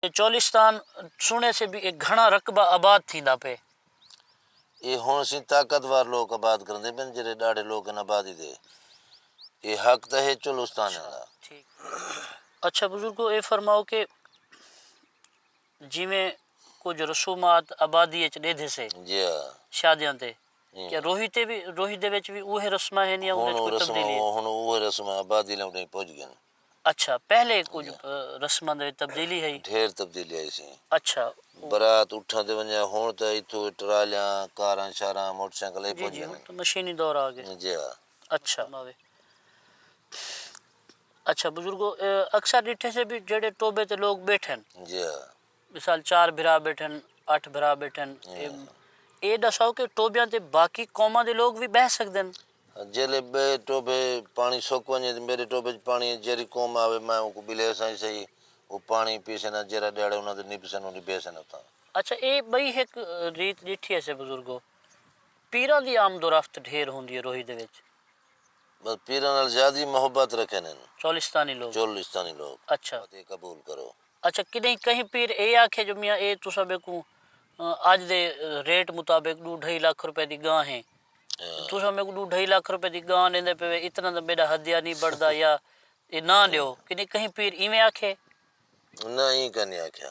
اے چولستان سنڑے سے بھی اے گھنڑا رقبہ آباد تھیندا پئے۔ اے ہنڑ سیں طاقتور لوک آباد کرندے پئن جیرھے ڈاڑھے لوک ہن آبادی دے۔ اے حق تاں ہے چولستانیاں دا۔ اچھا بزرگو اے فرماؤ کہ جیویں کجھ رسومات آبادی اچ ڈیدھے سے شادیاں تے کیا روہی تے وی روہی دے وچ وی اوہے رسماں ہن یا اوں وچ کوئی تبدیلی ہے؟ ہنڑ اوہے رسماں آبادی لے اڈاہیں پج گئن۔ اچھا پہلے کجھ رسماں دے وچ تبدیلی ہئی۔ ڈھیر تبدیلی آئی سی۔ اچھا۔ برات اٹھاں تے ونجے ہن تے اتھو ٹرالیاں کاراں شاراں موٹر سائیکل ہی پہنچ جاندے۔ جی جی ہن تے مشینی دور آ گئے۔ جی ہا۔ اچھا۔ اچھا بزرگو اکثر ڈٹھے سے بھی جیڑھے ٹوبے تے لوگ بیٹھن۔ جی ہا۔ مثال چار بھرا بیٹھن اٹھ بھرا بیٹھن اے ڈساؤ کہ ٹوبیاں تے باقی قوماں دے لوگ وی بہہ سکدن۔ جیلے بئے ٹوبے پانڑی سک ونجے تے میڈے ٹوبے اچ پانڑی اے جیرھی قوم آوے میں اونکوں بلیساں ہی سہی او پانڑی پیسن آ جیرھا ڈیہاڑے انہاں توں نبسن او نبیسن اتھاں۔ اچھا اے بئی ہک ریت ڈیٹھی ہیسے بزرگو پیراں دی آمد و رفت ڈھیر ہوندی اے روہی دے وچ۔ بس پیراں نال زیادہ ہی محبت رکھن ہن۔ چولستانی لوگ۔ چولستانی لوگ۔ اچھا۔ بات اے قبول کرو۔ اچھا کݙہیں کہیں پیر اے آکھے جو میاں اے تساں میکوں اڄ دے ریٹ مطابق ݙو ڈھائی لکھ روپے دی گاں ہے تساں میکوں ݙو ڈھائی لکھ روپے دی گاں ݙیندے پئے اتنا تاں میݙا ہدیہ نی بݨدا یا اے نہ ݙیو کݙہیں کہیں پیر ایویں آکھے؟ نہ ایں کائنی آکھیا۔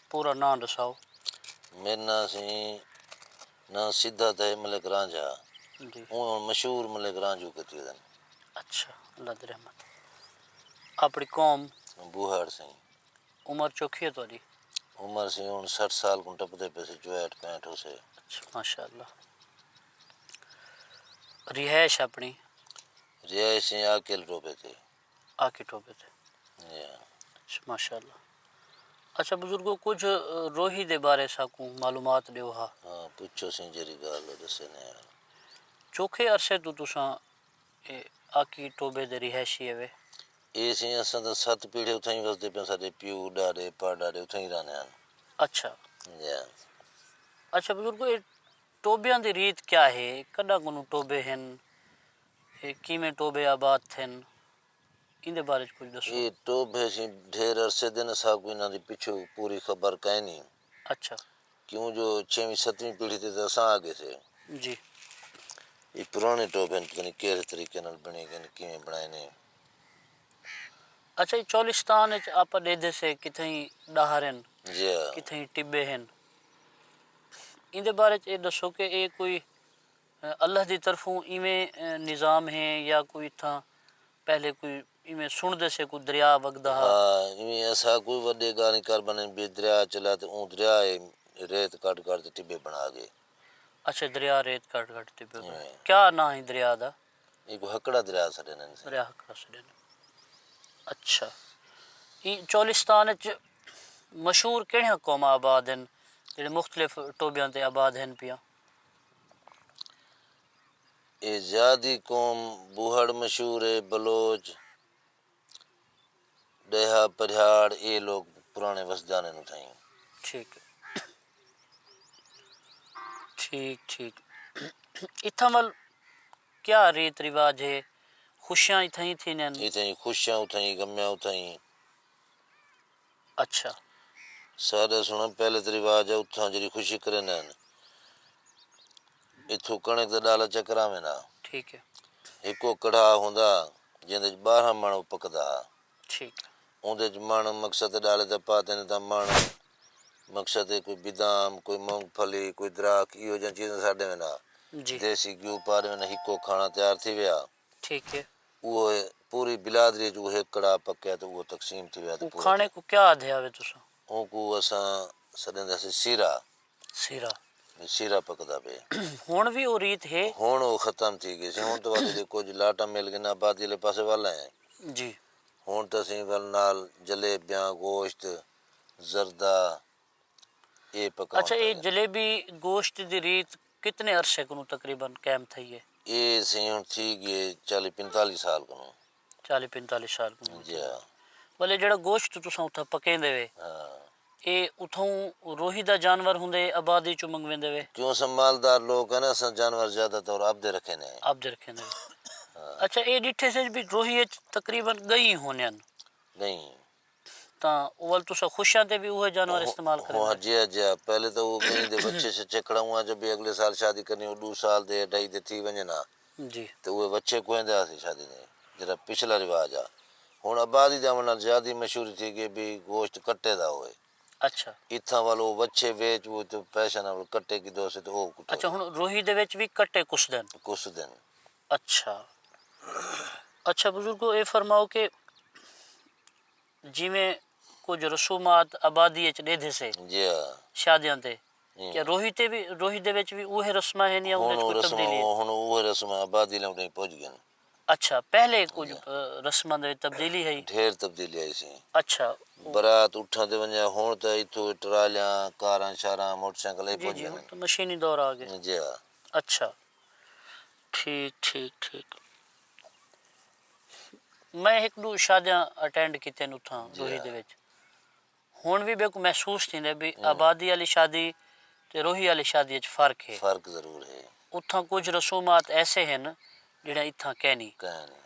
پورا ناں ڈساؤ۔ میرا ناں سی نہ سدھا تھئے ملک رانجھا جی اوں ہن مشہور ملک رانجھو کیتی ودن۔ اچھا اللہ دی رحمت اپنی قوم۔ بوہاڑ سئیں۔ عمر چوکھی ہے تہاڈی۔ عمر سی ہن سٹھ سال کوں ٹپدے پئے سی چوہٹ پینٹ ہوسے۔ اچھا ماشاء اللہ رہائش اپنی۔ رہائش سئیں عاقل ٹوبے تے۔ آکے ٹھوبے تے ماشاء اللہ اچھا بزرگو کچھ روہی دے بارے ساکوں معلومات ڈیو ہا ہاں پوچھو سیں جیری گال دسے نے چوکھے عرصے تو تساں آکی ٹوبے دے رہائشی ہوئے اے سیں اساں دا ست پیڑھے اتھا ہی وسدے پہ ساڈے پیو ڈاڈے پڑ ڈاڈے اتھا ہی رہنے ہن اچھا اچھا بزرگو اے ٹوبیاں دی ریت کیا ہے کڈا کنوں ٹوبے ہن اے کیویں ٹوبھے آباد تھن ایندے بارے وچ کجھ ݙسو۔ اے ٹوبھے اسی ڈھیر عرصے دے ہن اساکوں انہاں دی پچھوں پوری خبر کائنی۔ اچھا۔ کیوں جو چھیویں ستویں پیڑھی تے تاں اساں آ گئیسے۔ جی۔ اے پراݨے ٹوبھے ہن پتہ نی کیہڑے طریقے نال بݨے گئے ہن کیویں بݨائے نے۔ اچھا اے چولستان وچ آپاں ݙیدھے سے کتھائیں ݙاہر ہن۔ جی ہا۔ کتھائیں ٹبے ہن۔ ایندے بارے وچ اے ݙسو کہ اے کوئی۔ اللہ دی طرفوں ایویں نظام ہے یا کوئی اتھاں پہلے کوئی ایویں سݨدے سے کوئی دریا وگدا ہا۔ ہا ایویں اساں کوئی وڈے گانی کر بنن بی دریا چلا تے اوں دریا اے ریت کڈھ کڈھ تے ٹبے بنا گئے۔ اچھا دریا ریت کڈھ کڈھ تے ٹبے بنا گئے۔ کیا ناں ہی دریا دا؟ ایکوں ہکڑا دریا سڈیندن سے۔ دریا ہکڑا سڈیندن۔ اچھا ای چولستان اچ مشہور کیڑھیاں قوماں آباد ہن جیڑھے مختلف ٹوبیاں تے آباد ہن پیاں؟ اے زیادی قوم بوہڑ مشہور اے بلوچ ڈیہہ پریہاڑ اے لوگ پرانے وسجانے نو تھئیں۔ ٹھیک ہے ٹھیک ٹھیک اتھاں ول کیا ریت رواج ہے خوشیاں اتھاں ہی تھیندین اتھاں ہی خوشیاں اتھاں ہی غمیاں اتھاں ہی اچھا۔ ساݙا سݨ پہلے تاں رواج ہے اتھاں جیڑھی خوشی کریندے ہن اتھوں کݨک دا ݙالا چا کراویندے ہن۔ ٹھیک ہے۔ ہکو کڑھا ہوندا ہا جیندے وچ ٻارہاں مݨ او پکدا ہا۔ ٹھیک۔ اوندے وچ مݨ مقصد دے ݙالے تاں پا تیندے تاں مݨ مقصد دے کوئی بدام کوئی مونگ پھلی کوئی دراکھ ایہو جیاں چیزاں ساݙ ݙیویندے ہن۔ جی۔ دیسی گھیو پا ݙیویندے ہن ہکو کھاݨا تیار تھی ویا۔ ٹھیک ہے۔ اوہ ہے پوری بلادری اچ اوہ ہک کڑاہ پکیا تے اوہ تقسیم تھیویا تے پورا تھیا۔ اوہ کھانے کوں کیا آدھیا وے تساں؟ اونکوں اساں سڈیندے ہسیں سیرا۔ سیرا۔ وی سیرا پکدا پئے۔ ہن وی اوہ ریت ہے؟ ہن اوہ ختم تھی گیسی۔ ہن تاں واسطے جے کجھ لاٹاں مل گینداں آبادی آلے پاسے ول ہیں۔ جی۔ ہن تاں اسیں ول نال جلیبیاں، گوشت، زردہ، اے پکاون اچھا اے جلیبی گوشت دی ریت کتنے عرصے کنوں تقریبا قائم تھئی اے؟ اے سئیں ہن تھی گی اے چالی پنتالی سال کنوں۔ چالی پنتالی سال کنوں تھی گی اے۔ ولے جیڑھا گوشت تساں اتھاں پکیندے وے۔ ہاں۔ اے اتھوں روہی دا جانور ہوندے اے آبادی چوں منگویندے وے؟ کیوں اساں مالدار لوک ہیں نا اساں جانور زیادہ طور آپدے رکھیندے ہیں۔ آپدے رکھیندے ہیں۔ اچھا اے ڈٹھے سج وی روہی اچ تقریبا گئیں ہونیاں۔ گئیں۔ تاں اول تساں خوشیاں تے وی اوہے جانور استعمال کریندے۔ ہاں جی ہاں جی ہاں پہلے تاں اوہ ڳئیں دے وچھے شچھے کھڑاؤنہاں جو بھی اگلے سال شادی کرنی اوہ ݙو سال دے اڈھائی دے تھی ونڄن ہا جی تے اوہے وچھے کوہیندے ہاسے شادی دے جیرھا پچھلا رواج ہا ہݨ آبادی دے آوݨ نال زیادی مشہوری تھی ڳئی بھی گوشت کٹے دا ہووے اچھا اتھاں ول اوہ وچھے ویچ ووچ تے پیسیاں نال کٹے کیدھوسے تے اوہ کٹوسے۔ اچھا ہݨ روہی دے وچ وی کٹے کسدن۔ کسدن۔ اچھا اچھا بزرگو اے فرماؤ کہ جیویں کجھ رسومات آبادی اچ ڈیدھے سے شادیاں تے کیا روہی تے وی روہی دے وچ وی اوہے رسماں ہن یا اوں وچ کوئی تبدیلی ہے ہن اوہے رسماں آبادی لے اوڈے پج گئن اچھا پہلے کجھ رسماں دے وچ تبدیلی ہئی ڈھیر تبدیلی آئی سی اچھا برات اٹھاں تے ونجے ہن تے ایتھوں ٹرالیاں کاراں شاراں موٹر سائیکل اے پج گئن جی ہن تے مشینی دور آ گئے جی ہاں اچھا ٹھیک ٹھیک ٹھیک میں ہک ڈو شادیاں اٹینڈ کیتیاں نے اتھاں روہی دے وچ ہن وی میکو محسوس تھیندا بھئی آبادی آلی شادی تے روہی آلی شادی وچ فرق ہے فرق ضرور ہے اتھاں کچھ رسومات ایسے ہن جیہڑیاں اتھاں کینی کینی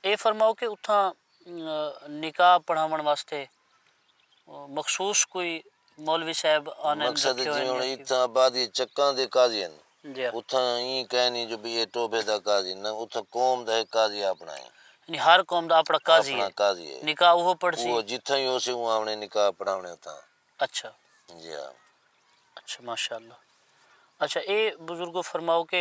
اے فرماؤ کہ اتھاں نکاح پڑھاون واسطے مخصوص کوئی مولوی صاحب آنن رکھیو ہن۔ مقصد جیویں ہن اتھاں آبادی اچ چکاں دے قاضی ہن۔ اتھاں ایں کائنی جو بھئی اے ٹوبھے دا قاضی نہ اتھاں قوم دا ہک قاضی آپنڑاں اے۔ یعنی ہر قوم دا آپنڑاں قاضی اے۔ آپنڑاں قاضی اے۔ نکاح اوہو پڑھسی۔ اوہو جتھاں ہی ہوسی اوں آونڑیں نکاح پڑھاونڑیں اتھاں۔ اچھا۔ جی ہاں۔ اچھا ماشاءاللہ۔ اچھا اے بزرگو فرماؤ کہ۔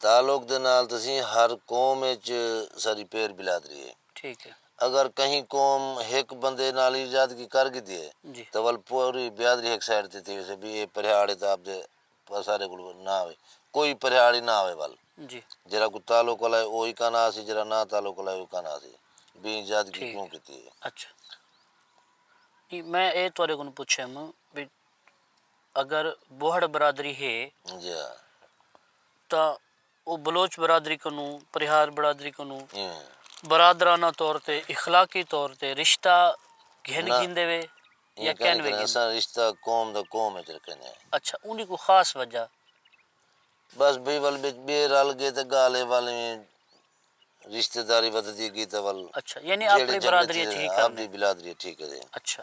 تعلق دے نال تسیں ہر قوم اچ ساڈی پیر بلادری ہے۔ ٹھیک ہے۔ اگر کہیں قوم ہک بندے نال ایجادگی کر گھدی ہے جی۔ تاں ول پوری بیادری ہک سائیڈ تے تھی ویسے بی اے پریہاڑ تاں آپ دے اساڈے کول نہ آوے۔ کوئی پریہاڑ ہی نہ آوے ول۔ جی۔ جیرھا کوئی تعلق والا ہے او ہی کانہ آسی جیرھا نہ تعلق والا ہے او کانہ آسی۔ بی ایجادگی کیوں کیتی ہے۔ اچھا۔ میں اے تہاڈے کولوں پچھیم بی اگر بوہڑ برادری ہے تاں او بلوچ برادری کنوں، پرہیار برادری کنوں برادرانہ طور تے، اخلاقی طور تے رشتہ گھن گھندے وے یا کین وے گھندے؟ نہ ایں کن اساں رشتہ قوم دا قوم اچ رکھنے آں۔ اچھا اوں دی کوئی خاص وجہ؟ بس بھئی ول وچ ٻئے رل ڳئے تاں ڳالھ اے ول ایویں رشتہ داری ودھدی ڳئی تاں ول اچھا یعنی آپݨی برادری اچ ہی کرݨ۔ آپݨی برادری اچ ہی کرݨ۔ اچھا۔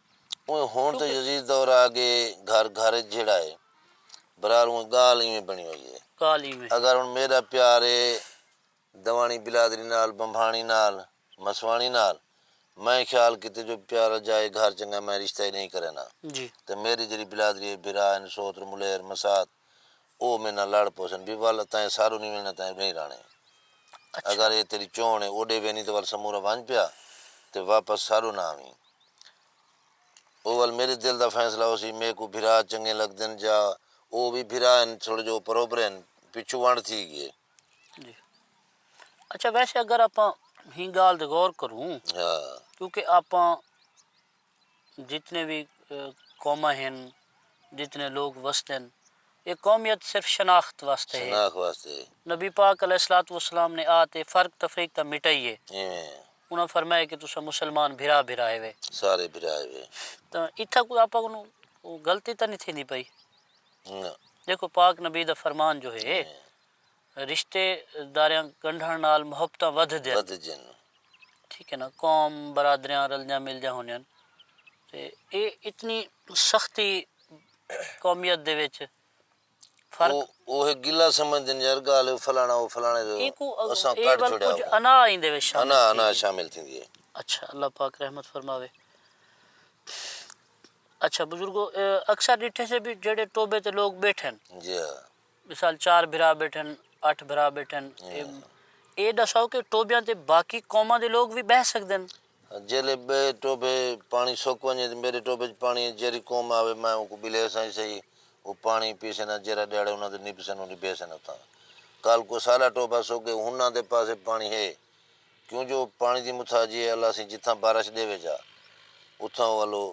اونویں ہنڑ تاں یزید دور آ گئے گھر گھر اچ جھیڑا اے برار اونویں گالھ ایویں بنڑی ہوئی اے اگر ہنڑ میڈا پیار اے دواݨی بلادری نال بنبھاݨی نال مسواݨی نال میں خیال کیتے جو پیارا جائے گھر چنگا میں رشتہ ای نئیں کرینا تے میڈی جیڑھی بلادری اے بھرا ہن سوتر ملیر مسات او میں نال لڑ پوسن بی ول تئیں ساروں نی وینا تئیں اڈھیں راہنے اگر اے تیڈی چونڑ اے اوڈے وینی تے ول سمورا ونج پیا تے واپس ساروں نہ آویں او ول میڈے دل دا فیصلہ ہوسی میکوں بھرا چنگے لگدن جا او وی بھرا ہن تھوڑے جو اوپر اوپرے ہن پچھوں ونڈ تھی گی اے۔ جی اچھا ویسے اگر آپاں ہی گال تے غور کروں کیونکہ آپاں۔ جتنے وی قوماں ہن جتنے لوگ وسدے ہن اے قومیت صرف شناخت واسطے ہے نبی پاک علیہ الصلوۃ والسلام نے آ تے فرق تفریق تاں مٹائی ہے انہاں فرمایا کہ تساں مسلمان بھرا بھرا ہیوے تاں اتھاں کوئی آپاں کنوں غلطی تاں نی تھیندی پئی دیکھو پاک نبی دا فرمان جو ہے۔ رشتے داریاں ڳنڈھݨ نال محبتاں ودھدین۔ ٹھیک ہے نا قوم برادریاں رلدیاں ملدیاں ہوندین تے اے اتنی سختی قومیت دے وچ فرق۔ او ہک گلہ سمجھدن یار ڳالھ اے او فلاݨا او فلاݨے دے اساں کڈھ چھوڑیا۔ اے کجھ انا ایندے وچ شامل تھیندی اے۔ انا انا شامل تھیندی اے۔ اچھا اللہ پاک رحمت فرماوے۔ اچھا بزرگو اکثر ݙٹھے سے وی جیڑھے ٹوبے تے لوک ٻیٹھن۔ جی ہا۔ مثال چار بھرا بیٹھن اٹھ بھرا بیٹھن اے ڈساؤ کہ ٹوبیاں تے باقی قوماں دے لوگ وی بہہ سکدن۔ جیلے بئے ٹوبے پانڑی سک ونجے تے میڈے ٹوبے اچ پانڑی اے جیرھی قوم آوے میں اونکوں بلیساں ہی سہی او پانڑی پیسن آ جیرھا ڈیہاڑے انہاں توں نبسن او نبیسن اتھاں کل کو ساڈا ٹوبہ سک گئے ہناں دے پاسے پانڑی ہے کیوں جو پانڑی دی متھاجی اے اللہ سیں جتھاں بارش ڈیوے جا اتھاں او الو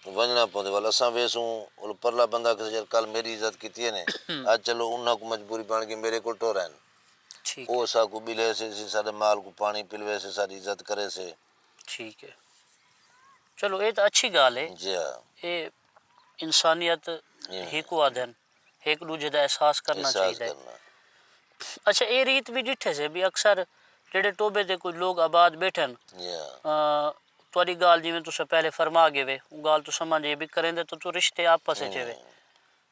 ونجنڑاں پوندے ول اساں ویسوں ول پرلا بندہ کھسے یار کل میڈی عزت کیتی ہے نے اج چلو انہاں کوں مجبوری بنڑ گئی میڈے کول ٹر ہن او اساں کوں بلے سے سی ساڈے مال کوں پانڑی پلوے سے ساڈی عزت کرے سے۔ ٹھیک ہے چلو اے تاں اچھی گال ہے جی ہا اے انسانیت ہیکوں آدھن۔ ہک ڈوجھے دا احساس کرنا چاہیدا ہے۔ اچھا اے ریت وی ڈٹھے سے بی اکثر جیڑھے ٹوبے تے کوئی لوگ آباد بیٹھے ہن تہاڈی گالھ جیویں تساں پہلے فرما گئے وے او گالھ تساں ماں جی بی کریندے تو تو رشتے آپس اچ ہوے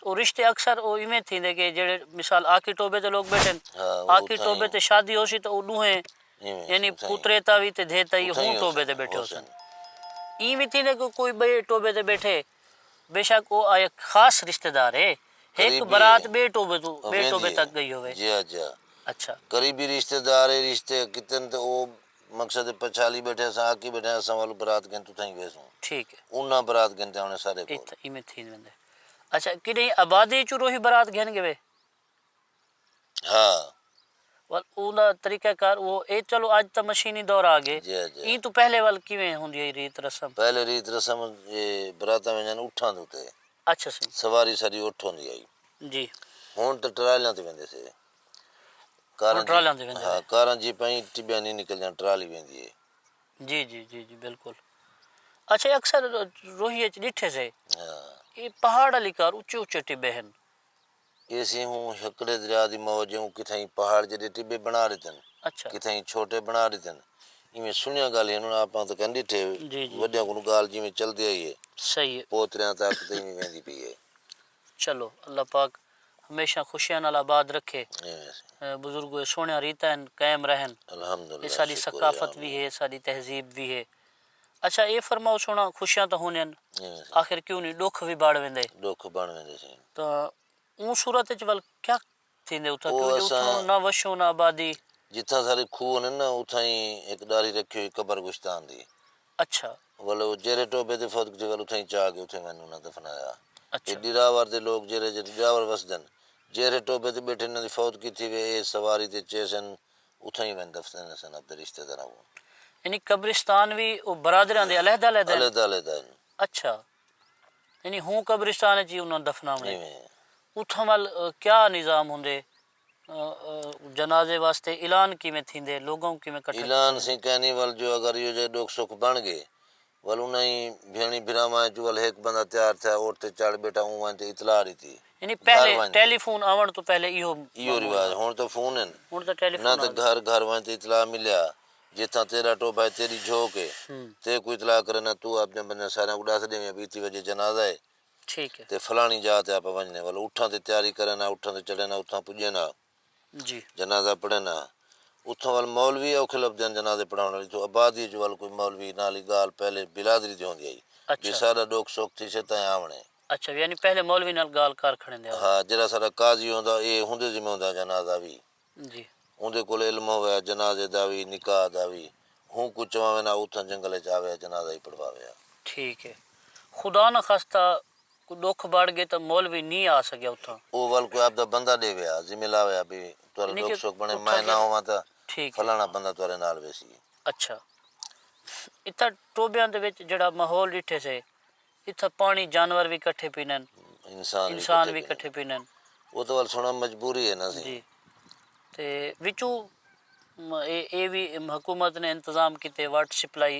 او رشتے اکثر او ایویں تھیندے کہ جیڑھے مثال آکھی ٹوبے تے لوگ بیٹھے ہن آکھی ٹوبے تے شادی ہوسی تو او ڈوہیں یعنی پترے تا وی تے دھے تا وی ہوں ٹوبے تے بیٹھے ہوسن۔ ایں وی تھیندے کہ کوئی بئے ٹوبے تے بیٹھے بے شک او آیا خاص رشتہ دار ہے۔ ہک برات بے ٹوبے توں بے ٹوبے تک گئی ہووے۔ جی ہا جی ہا۔ اچھا۔ قریبی رشتہ دار ہے رشتے کیتن تے او مقصد ہے پچھالی بیٹھے اساں آکی بیٹھے ہیں اساں ول برات گھن توں تھائیں ویسوں۔ ٹھیک ہے۔ انہاں برات گھن تے آنے سارے کول۔ ایتھا ایویں تھین ویندے۔ اچھا کڈہیں آبادی چوں روہی برات گھن گھوے۔ ہاں۔ ول اوندا طریقہ کار اوہو اے چلو اج تاں مشینی دور آ گئے جی ہاں جی ہاں۔ ایں توں پہلے ول کیویں ہوندی ہئی ریت رسم؟ پہلے ریت رسم اے براتاں ویندیاں اٹھاں دے اتے۔ اچھا سئیں۔ سواری ساڈی اٹھ ہوندی ہئی۔ جی۔ ہن تاں ٹرالیاں تے ویندے سے۔ ہن ٹرالیاں تے ویندے۔ ہاں کاراں جیپاں ایں ٹبیاں نی نکلدیاں ٹرالی ویندی اے۔ جی جی جی جی بالکل۔ اچھا اکثر روہیے اچ ڈٹھے سے۔ ہاں۔ اے پہاڑ آلی کار اچے اچے ٹبے ہن۔ ایسی ہوں ہکڑے دریا دی موج ہے ہوں کتھائیں پہاڑ جیڈے ٹبے بنا ڈتن کتھائیں چھوٹے بنا ڈتن ایویں سنیاں گال ہن ہن آپاں تاں کن ڈٹھے وڈیاں کولوں گال جیویں چلدی آئی ہے پوتریاں تک تے ایویں ویندی پئی ہے۔ چلو اللہ پاک ہمیشہ خوشیاں نال آباد رکھے بزرگو اے سوہنیاں ریتاں ہن قائم رہن اے ساڈی ثقافت وی ہے ساڈی تہذیب وی ہے۔ اچھا اے فرماؤ سونا خوشیاں تاں ہوندین آخر کیوں نی ڈکھ وی بڑ ویندے۔ ڈکھ بن ویندے سین۔ تاں اوں صورت اچ ول کیا تھیندے اتھاں کیوں جو اتھاں نہ وشوں نہ آبادی۔ جتھاں سارے کھوہ ہوندین نا اتھاں ای ہک ڈاڑھی رکھی ہوئی قبر گشتان دی۔ اچھا۔ ول او جیرھے ٹوبے تے فوت تھے ول اتھاں ای چا کے اتھاں ونج انہاں دفنایا۔ اے ڈراور دے لوک جیرھے جیرھے ڈراور وسدن جیرھے ٹوبے تے بیٹھے انہاں دی فوت تھی وے اے سواری تے چیسن اتھاں ہی ویندے دفن تھیندے سن اپنے رشتہ داراں کوں۔ یعنی قبرستان وی او برادریاں دے علیحدہ علیحدہ ہن؟ علیحدہ علیحدہ ہن۔ اچھا یعنی ہوں قبرستان اچ ہی انہاں دفناونے۔ ایویں ہے۔ اتھاں ول کیا نظام ہوندے؟ جنازے واسطے اعلان کیویں تھیندے؟ لوگاں کوں کیویں کٹھا کیتا ویندے؟ اعلان سئیں کینی ول جو اگر ایہو جئے ڈکھ سکھ بن گئے ول انہائیں بھیݨی بھراواں اچوں ول ہک بندہ تیار تھیا اٹھ تے چڑھ بیٹھا اوں وانجھ تے اطلاع ڈتی۔ یعنی پہلے ٹیلی فون آوݨ توں پہلے ایہو ایہو رواج ہن تاں فون ہن ہن تاں ٹیلی فون نہ تاں گھر گھر وانجھ تے اطلاع ملیا جتھاں تیڈا ٹوبھا ہے تیڈی جھوک ہے تیکوں اطلاع کرے نہ توں اپݨے بندیاں ساریاں کوں ڈس ڈیویں بھئی اتی وجے جنازہ ہے ٹھیک ہے تے فلانی جاہ تے آپاں ونجنے ول اٹھاں تے تیاری کرے نہ اٹھاں تے چڑھے نہ اتھاں پجے نہ جی۔ جنازہ پڑھن ہاں۔ اتھاں ول مولوی اوکھے لبھدے ہن جنازے پڑھاوݨ آلی توں آبادی اچ ول کوئی مولوی نہ آلی گالھ پہلے برادری دی ہوندی ہئی اچھا۔ جی ساڈا ڈکھ سکھ تھیسے تاں آوݨے۔ اچھا یعنی پہلے مولوی نال گالھ کر کھڑیندے ہو۔ ہاں جیڑھا ساڈا قاضی ہوندا اے اوندے ذمہ ہوندا جنازہ وی۔ جی۔ اوندے کول علم ہووے جنازے دا وی نکاح دا وی۔ ہوں کوں چواوے نہ اتھاں جنگل اچ آوے جنازہ ہی پڑھواوے ہا۔ ٹھیک اے۔ خدا نخواستہ۔ کوں ڈکھ بڑ گئے تاں مولوی نی آ سگیا اتھاں۔ او ول کوئی آپدا بندہ ڈے ویا ذمہ لا ویا بھئی تہاڈا یعنی ڈکھ کہ سکھ بنے میں اتھاں نہ ہوواں تاں ٹھیک ہے۔ فلانا بندہ تہاڈے نال ویسی۔ اچھا اتھاں ٹوبیاں دے وچ جیہڑا ماحول ڈٹھے سے اتھاں پانی جانور وی کٹھے پینن انسان وی انسان کٹھے وی پینن۔ کٹھے پینن۔ او تاں ول سنڑاں مجبوری ہے نا سی۔ جی تے وچوں اے اے وی حکومت نے انتظام کیتے واٹر سپلائی۔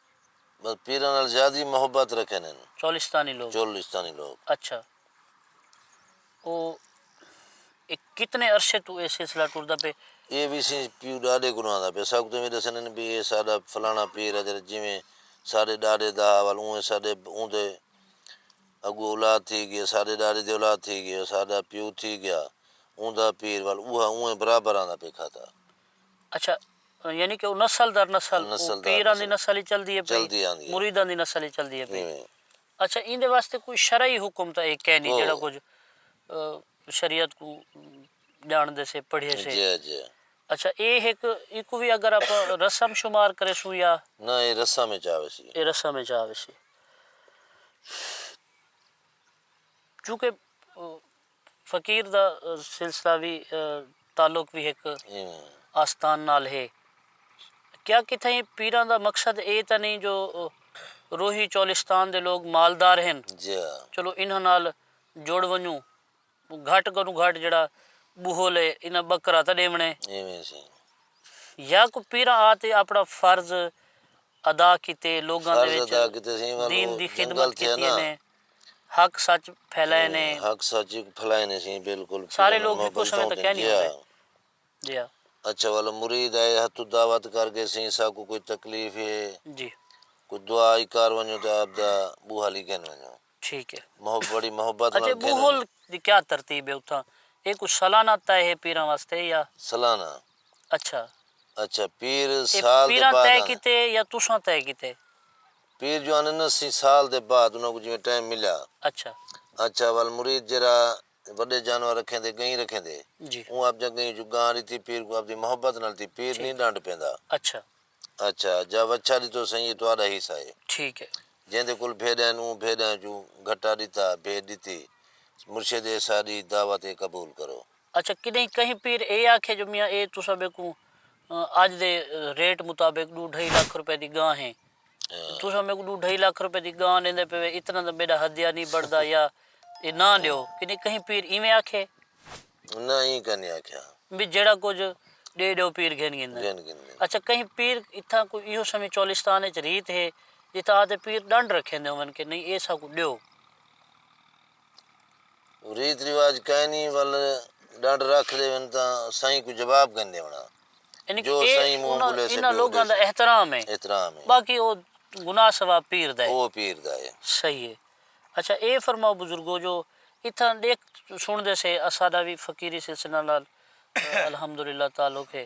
بس پیراں نال زیادی محبت رکھن ہن۔ چولستانی لوگ۔ چولستانی لوگ۔ اچھا او اے کتنے عرصے توں اے سلسلہ ٹردا پئے؟ اے وی اسیں پیو ڈاڈے کولوں آندا پئے اساکوں تاں وی ڈسن ہن بی اے ساڈا فلانا پیر ہے جیڑا جیویں ساڈے ڈاڈے دا ہا ول اونویں ساڈے اوندے اگوں اولاد تھی گئے ساڈے ڈاڈے دی اولاد تھی گئے ساڈا پیو تھی گیا اوندا پیر ول اوہا اونویں برابر آندا پئے کھاتا۔ اچھا یعنی کہ او نسل در نسل نسل در نسل پیراں دی نسل اچ چلدی ہے پئی چلدی آندی ہے مریداں دی نسل اچ چلدی ہے پئی ایویں اچھا ایندے واسطے کوئی شرعی حکم تاں ایک ہے نی جیڑھا کوئی کچھ شریعت کوں جان دے سے پڑھے سے جی جی اچھا اے ہک ایکوں وی اگر آپاں رسم شمار کریسوں یا نہ اے رسم اچ آویسی اے رسم اچ آویسی چونکہ فقیر دا سلسلہ وی تعلق وی ہک آستان نال ہے۔ کیا کتھائیں پیراں دا مقصد اے تاں نئیں جو روہی چولستان دے لوک مالدار ہن چلو انہاں نال جڑ ونجوں۔ گھٹ کنوں گھٹ جیڑھا ٻہل اے انہاں ٻکرا تاں ݙیوݨے۔ یا کوئی پیراں آ تے اپݨا فرض ادا کیتے لوکاں دے وچ دین دی خدمت کیتی انہیں۔ حق سچ پھیلائے نے۔ حق سچ اک پھیلائے نے سیں بالکل۔ سارے لوگ ہکو سمے تاں کہہ نیں ہوندے۔ جی ہا۔ اچھا والا مرید آئے ہتو دعوت کر گئے سیں ساکو کوئی تکلیف ہے۔ جی۔ کوئی دعا ہی کر ونجو تے آپ دا بوہل ہی گھن ونجو۔ ٹھیک ہے۔ محب بڑی محبت نال گھن ونجو۔ اچھا بوہل دی کیا ترتیب ہے اتھاں؟ اے کوئی سالانہ طے ہے پیراں واسطے یا؟ سالانہ۔ اچھا۔ اچھا پیر سال دے بعد آندے۔ اے پیراں طے کیتے یا تساں طے کیتے؟ پیر جو آندن نا سی سال دے بعد انہاں کوں جیویں ٹائم ملیا۔ اچھا۔ اچھا ول مرید جیرھا وڈے جانور رکھیندے گئیں رکھیندے۔ جی۔ اوں آپجاں گئیں اچوں گاں ڈتی پیر کوں آپدی محبت نال تی پیر نی ڈانڈ پیندا۔ اچھا۔ اچھا جا وچھا ڈتو سئیں اے تہاڈا حصہ اے۔ ٹھیک اے۔ جیندے کول بھیڈاں ہن اوں بھیڈاں اچوں گھٹا ڈتا بھیڈ ڈتی مرشد اے ساڈی دعوت اے قبول کرو۔ اچھا کݙہیں کہیں پیر اے آکھے جو میاں اے تساں میکوں اڄ دے ریٹ مطابق ݙو ڈھائی لکھ روپے دی گاں ہے تساں میکوں ݙو ڈھائی لکھ روپے دی گاں ݙیندے پئے اتنا تاں میݙا ہدیہ نی بݨدا یا اے نہ ݙیو کݙہیں کہیں پیر ایویں آکھے؟ نہ ایں کائنی آکھیا۔ وی جیڑھا کجھ ݙے ݙیو پیر گھن گھن گھن گھن۔ اچھا کہیں پیر اتھاں کوئی ایہو سویں چولستان وچ ریت ہے جتھاں آتے پیر ݙنڈ رکھیندے ہوون کہ نئیں اے ساکوں ݙیو؟ ریت رواج کائنی ول ڈنڈ رکھ ڈیون تاں سائیں کوں جواب کائنی ڈیونڑاں یعنی جو سائیں منہ بولیسے جو ڈیسے انہاں لوگاں دا احترام ہے احترام ہے باقی او گناہ ثواب پیر دا ہے او پیر دا ہے صحیح ہے اچھا اے فرماؤ بزرگو جو اتھاں ڈیکھ سن دے سے اساڈا وی فقیری سلسلہ نال الحمدللہ تعلق ہے۔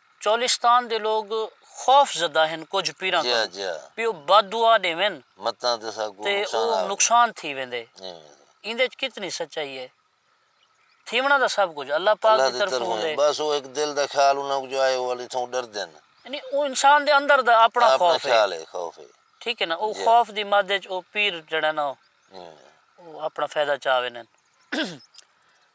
چولستان دے لوگ خوف زدہ ہن کجھ پیراں کنوں بھئی او بد دعا ݙیون تے او نقصان تھی ویندے۔ ایندے اچ کتنی سچائی اے؟ تھیوݨاں تاں سب کجھ اللہ پاک دی طرفوں ہوندے۔ بس او ہک دل دا خیال انہاں کوں جو آئے او اللہ توں ݙردن۔ یعنی او انسان دے اندر دا اپݨا خوف اے۔ اپݨا خیال اے خوف اے۔ ٹھیک اے نا او خوف دی مد اچ او پیر جیڑھا نا او اپݨا فیدہ چا ویندن۔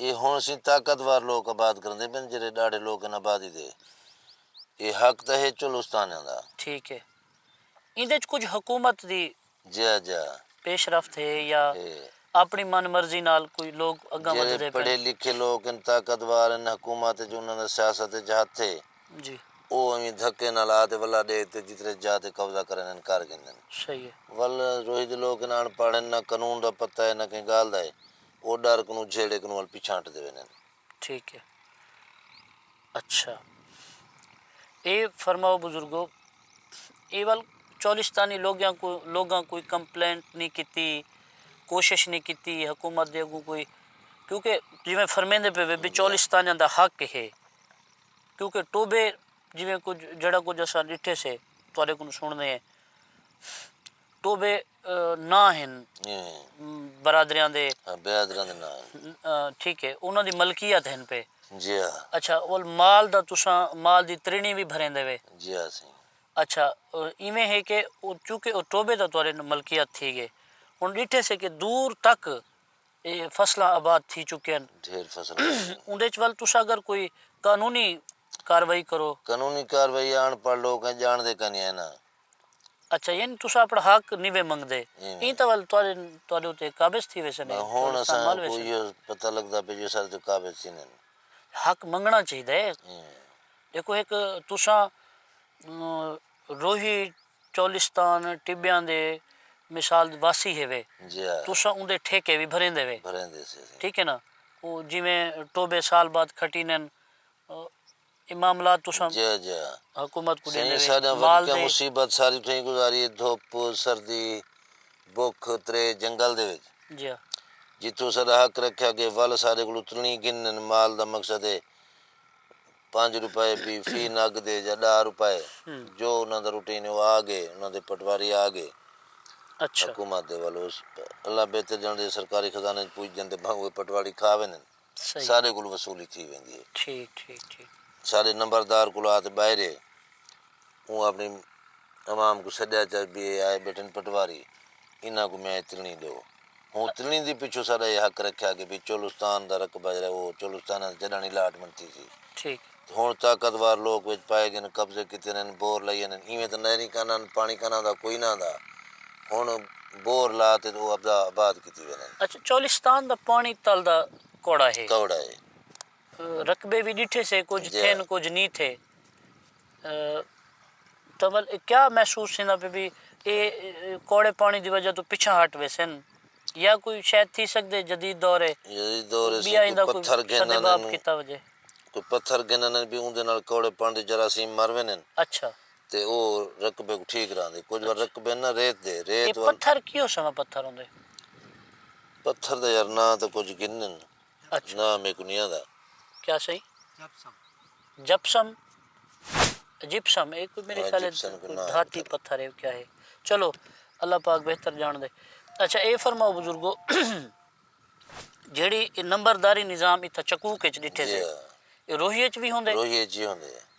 اے ہن سیں طاقت وار لوک آباد کریندے پن جیرھے ڈاڈھے لوک ہن آبادی دے۔ اے حق تاں ہے چولستانیاں دا۔ ٹھیک ہے۔ ایندے وچ کجھ حکومت دی۔ جیا جیا۔ پیش رفت ہے یا۔ ہے۔ اپنی من مرضی نال کوئی لوک اگاں ودھدے پن۔ جیرھے پڑھے لکھے لوک ہن طاقت وار ہن حکومت وچ انہاں دا سیاست وچ ہتھ ہے۔ جی۔ او اویں دھکے نال آ تے ولا ڈیکھ تے جترے جاہ تے قبضہ کرن ہن کر گھندن۔ صحیح ہے۔ ول روہی دے لوک ہن اݨ پڑھ ہن نہ قانون دا پتہ ہے نہ کہیں گالھ دا ہے۔ او ڈر کنوں جھیڑے کنوں ول پچھانٹ دے ویندن۔ ٹھیک ہے اچھا اے فرماؤ بزرگو اے ول چولستانی لوگیاں کو لوگاں کوئی کمپلینٹ نی کیتی کوشش نی کیتی حکومت دے اگوں کوئی کیونکہ جیویں فرمیندے پے وے چولستانیاں دا حق ہے کیونکہ ٹوبے جیویں کچھ جیڑھا کچھ اساں ڈٹھے سے تہاڈے کوں سنڑنے ہیں۔ ٹوبے ناں ہن برادریاں دے برادریاں دے ناں ہن ٹھیک ہے انہاں دی ملکیت ہن پے جی ہاں اچھا اول مال دا تساں مال دی ترینی وی بھریندے وے جی ہاں سائیں اچھا ایویں ہے کہ چونکہ او ٹوبے دا تورے ملکیت تھی گئے ہن ڈٹھے سے کہ دور تک اے فصلاں آباد تھی چکے ہن ڈھیر فصل اوندے چ ول تساں اگر کوئی قانونی کاروائی کرو قانونی کاروائی آن پڑھ لوگ ہیں جان دے کنے ہیں نا اچھا یعنی تساں اپنڑاں حق نیوے منگدے ایں تاں ول تہاڈے اتے قابض تھی ویسن بس ہن اساں کوں ایہو پتہ لگدا پئے جو اساڈے اتے قابض تھیندن حق منگنڑاں چاہیدا ہے ڈیکھو ہک تساں روہی چولستان ٹبیاں دے مثال دے واسی ہیوے تساں اوندے ٹھیکے وی بھریندے وے ٹھیک ہے نا جیویں ٹوبے سال بعد کھٹیندن اے معاملات تساں حکومت کوں ڈیندے وے مال دے۔ مصیبت ساری تھیں گزاری ہے دھوپ سردی بھوک ترے جنگل دے وچ جتھوں ساڈا حق رکھیا گئے ول ساڈے کولوں ترنی گھنن مال دا مقصد ہے پنج روپے بھی فی نگ دے یا ڈاہ روپے جو انہاں دا روٹین ہے او آ گئے انہاں دے پٹواری آ گئے حکومت دے ول اللہ بہتر جانڑدے سرکاری خزانے وچ پج جاندے بھاویں اوہ پٹواری کھا ویندن۔ سارے کولوں وصولی تھی ویندی ہے۔ ٹھیک ٹھیک ٹھیک۔ سارے نمبردار کولوں آ تے باہر ہے۔ اوں اپنی عوام کوں سڈیا چا بی اے آئے بیٹھن پٹواری انہاں کوں میچ تلنی ڈیو۔ ہوں تلنی دی پچھوں ساڈا اے حق رکھیا کہ بی چولستان دا رقبہ جیرا او چولستان دا جڈانی الاٹمنٹ تھی سی۔ ٹھیک۔ ہنڑ طاقت وار لوک وچ پائے گن قبضے کیتے ہن بور لائی ہن ایویں تاں نہری کاناں ہن پانڑی کاناں دا کوئی نہ ہندا ہنڑ بور لا تے او ابدا آباد کیتی وین ہن۔ اچھا چولستان دا پانڑی تل دا کوڑا ہے۔ کوڑا ہے۔ رقبے وی ڈٹھے سے کجھ تھن کجھ نی تھے تاں ول کیا محسوس تھیندا پے بی اے کوڑے پانڑی دی وجہ توں پچھاں ہٹ ویسن یا کوئی شاید تھی سگدے جدید دور ہے۔ جدید دور ہے سن کوئی پتھر گھن آنن۔ کوئی پتھر گھن آنن بھی اوندے نال کوڑے پن دے جراثیم مر ویندن۔ اچھا۔ تے او رقبے کوں ٹھیک رہندے۔ کجھ وار رقبے نہ ریت دے۔ ریت وال۔ اے پتھر کیوں سماں پتھر ہوندے۔ پتھر دا یار ناں تاں کجھ گھنن۔ اچھا ناں میکوں نیں آندا۔ کیا سائیں جپسم جپسم جپسم اے کوئی میرے خیال دھاتی پتھر ہے کیا ہے چلو اللہ پاک بہتر جان دے اچھا اے فرماؤ بزرگو جیڑی نمبرداری نظام اتھا چکوک اچ ڈٹھے سے روہی اچ بھی ہوندے روہی اچ بھی ہوندے۔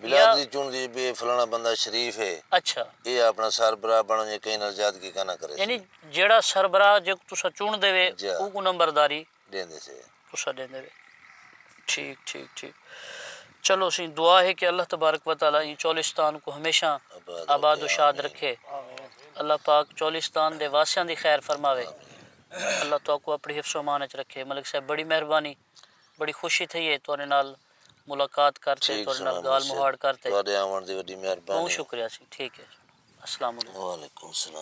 بلاد دی چنڑ دی بی اے فلانا بندہ شریف ہے۔ اچھا۔ اے آپنڑا سر براہ بنڑ ونجے کہیں نال زیادگی کاناں کریسی۔ یعنی جیڑھا سر براہ جیکوں تساں چنڑدے وے اوکوں نمبرداری۔ ڈیندے سے۔ تساں ڈیندے وے۔ ٹھیک ٹھیک ٹھیک۔ چلو اسیں دعا ہے کہ اللہ تبارک و تعالی ایں چولستان کوں ہمیشہ آباد و شاد رکھے۔ اللہ پاک چولستان دے واسیاں دی خیر فرماوے۔ اللہ تہاکوں اپنڑی حفظ و امان اچ رکھے۔ ملک صاحب بڑی مہربانی۔ بڑی خوشی تھئی ہے تہاڈے نال ملاقات کر تے تہاڈے نال گالھ مہاڑ کر تے۔ تہاڈے آوݨ دی وڈی مہربانی۔ بہوں شکریہ سی ٹھیک ہے السلام علیکم۔ وعلیکم السلام۔